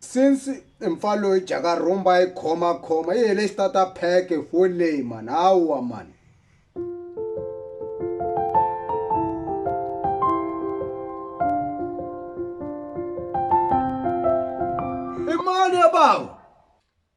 Since i mpfa loyi jaka rhumba yi khoma khoma yi hele xitata pheke fo leyi mani hawa mani i mani ya bawa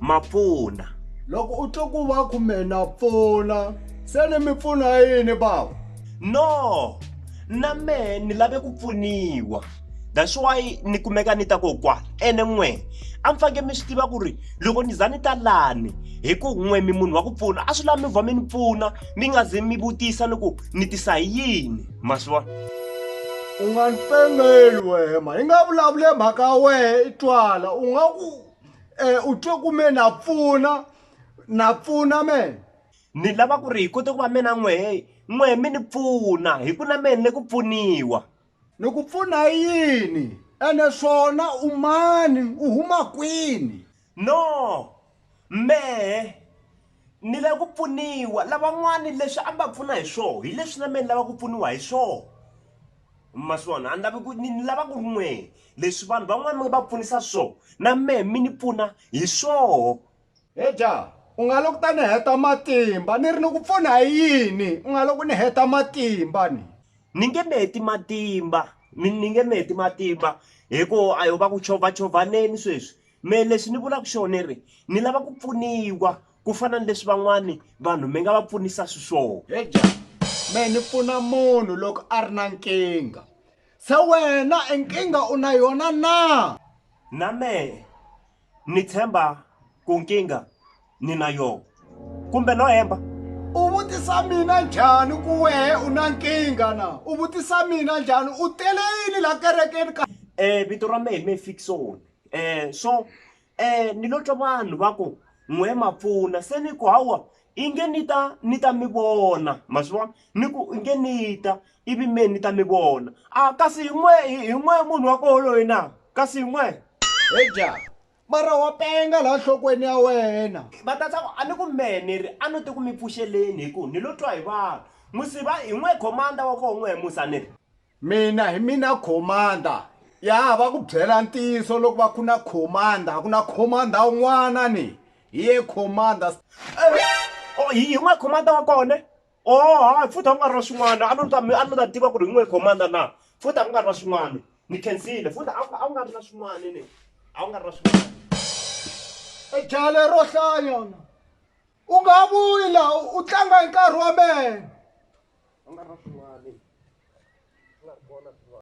ma pfuna loko u twa ku va ku me na pfuna se ni mi pfuna yini bava no na mehe ni lave ku pfuniwa that's why ni kumeka ni ta kokwana ene n'we a mi faneke mi swi tiva ku ri loko ni za ni ta lani hi ku n'we mi munhu wa ku pfuna a swi lavi mi vha mi ni pfuna mi nga ze mi vutisa ni ku ni tisa hi yini ma swi vona u nga ni pengeli wehema hi nga vulavule mhaka ya wehe i twala u nga ku Eh, u twe ku me na pfuna na pfuna mena ni lava ku ri hi kote ku va mina n'wehe n'wehe mi ni pfuna hi ku na mina ni ku pfuniwa ni ku pfuna hi yini ene swona u mani u huma kwini no mehe ni lava ku pfuniwa lavan'wani leswi a mi va pfuna hi swona hi leswi na mina ni lava ku pfuniwa hi swona maswona a ni lavi ku ni ni lava ku ri n'wehe leswi vanhu van'wana mi nga va pfunisa swo na mehe mi ni pfuna hi swoho he jaha u nga loko ta ni heta matimba ni ri ni ku pfuna hi yini u nga loko ni heta matimba ni ni nge mi heti matimba mi ni nge mi heti matimba hi ku a yo va ku chovha chovaneni sweswi mehe lexi ni vulaka xona ni ri ni lava ku pfuniwa ku fana ni leswi van'wani vanhu mi nga va pfunisa swiswona eja me ni pfuna munhu loko a ri na nkingha se wena e nkingha u na yona na na me ni tshemba ku nkingha ni na yona kumbe no hemba u vutisa mina njhani ku wehe u na nkingha na u vutisa mina njhani u tele yini la kerekeni ka um vito ra mehe me fikisoni um so Eh, ni lo twa vanhu va ku, N'we ma pfuna. Se ni ku, Hawa, i nge ni ta, ni ta mi vona. Ma swi vona? Ni ku, I nge ni ta, ivi me ni ta mi vona. A, kasi hi n'we, hi, hi n'we munhu wa koho loyi na? Kasi hi n'we? He ja! Mara wa penga laha nhlokweni ya wena. Va ta tsaka, a ni ku, Mehe ni ri, a no te ku mi pfuxeleni, hi ku, ni lo twa hi vanhu. N'wi siva, hi n'we khomanda wa koho n'we Musa, ni ri. mina hi mina commander ya va ku byela ntiyiso loko va ku na commander ku na commander un'wana ni hi ye commander oh, hi yin'we commander wa kona o oh, hayi futhi a ku nga ri na swin'wana a ni ta a ni ta tiva ku ri yin'we commander na futhi a ku nga ri na swin'wana ni khensile futhi a ku nga ri na swin'wana ni a ku nga ri na swin'wana e jale ro hlaya u nga ha vuyi laha u tlanga hi nkarhi wa mehe